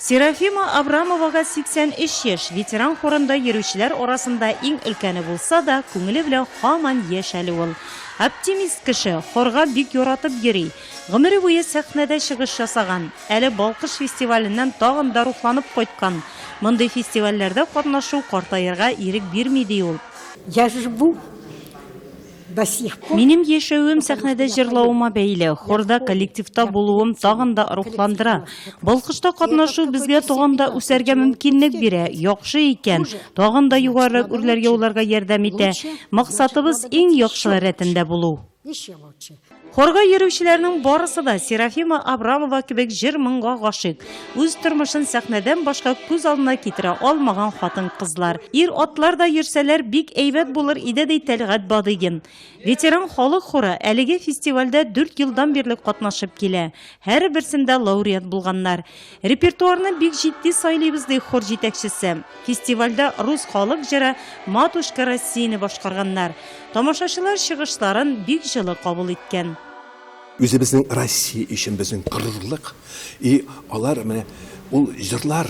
Серафима Абрамовага 83 яшь, ветеран хорында йөрүчеләр арасында иң өлкәне булса да, күңеле белән һаман яшь әле ул. Оптимист кеше, хорга бик яратып йөри. Гомере буе сәхнәдә чыгыш ясаган. Әле Балкыш фестиваленнән тагын да рухланып кайткан. Мондый фестивальләрдә катнашу картаерга ирек бирми, ди ул. Минем яшәвем сәхнәдә җырлавыма бәйле, хорда, коллективта булуым тагын да рухландыра. Балкышта катнашу безгә тагын да үсәргә мөмкинлек бирә, яхшы икән, тагын да югарырак үрләргә уларга ярдәм итә. Максатыбыз, иң яхшылар рәтендә булу. Хорга йөрүчеләрнең барысы да Серафима Абрамова кебек җыр-моңга гашыйк. Үз тормышын сәхнәдән башка күз алдына китерә алмаган хатын-кызлар. Ир-атлар да йөрсәләр, бик әйбәт булыр иде, ди Тәлгать Бадыйгин. Ветеран халык хоры әлеге фестивальдә дүрт елдан бирле катнашып килә. Һәрберсендә лауреат булганнар. Репертуарны бик җитди сайлыйбыз, ди хор җитәкчесе. Фестивальдә рус халык җыры Матушка Россияне башкарганнар. Тамашачылар чыгышларын бик җылы кабул иткән. Үзебезнең Россия өчен безнең горурлык. И алар менә ул җырлар,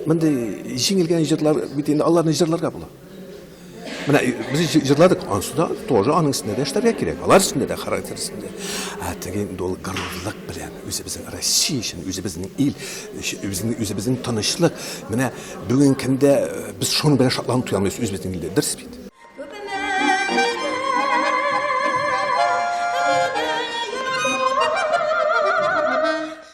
мондый җиңелгән җырлар бит инде аларны җырларга була. Менә без җырладык, ансы да тоже аның өстендә дә эшләргә кирәк. Алар өстендә дә характер өстендә. Ә теге инде ул горурлык белән үзебезнең Россия өчен, үзебезнең ил, үзебезнең үзебезнең тынычлык. Менә бүген көндә э, без шуның белән шатланып туя алмыйбыз үзебезнең илдә. Дөрес бит.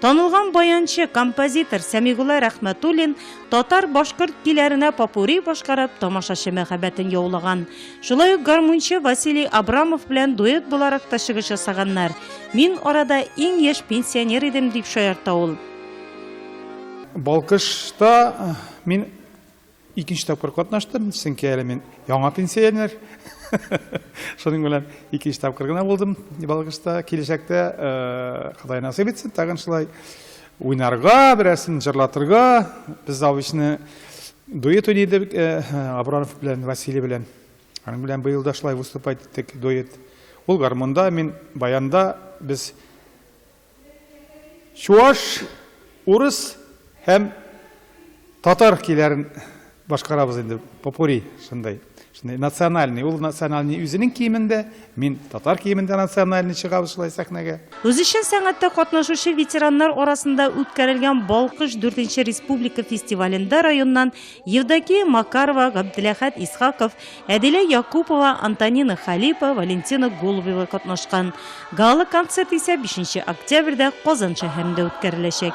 Танылган баянчы, композитор Сәмигулла Рәхмәтуллин татар-башкорт көйләренә попури башкарып, тамашачы мәхәббәтен яулаган. Шулай ук гармунчы Василий Абрамов белән дуэт буларак та чыгыш ясаганнар. Мин арада иң яшь пенсионер идем, дип шаярта ул. Балкышта мин Икенче тапкыр катнаштым, чөнки әле мин яңа пенсионер. Шуның белән икенче тапкыр гына булдым Балкышта. Киләчәктә Ходай насыйп итсен, тагын шулай уйнарга, берәрсен җырлатырга. Без Завичны дуэт уйный идек Абранов белән, Василий белән. Аның белән быел да шулай выступать иттек дуэт. Ул гармонда, мин баянда, без Чуаш, урыс һәм татар көйләрен башкарабыз инде. Попури шундай. Шундай национальный, ул национальный үзенең киемендә, мин татар киемендә национальный чыгабыз шулай сәхнәгә. Үзешчән сәнгатьтә катнашучы ветераннар арасында үткәрелгән Балкыш дүртенче республика фестивалендә районнан Евдокия Макарова, Габделәхәт Исхаков, Әдилә Якупова, Антонина Халипа, Валентина Голубева катнашкан. Гала концерт исә 5 октябрьдә Казан шәһәрендә үткәреләчәк.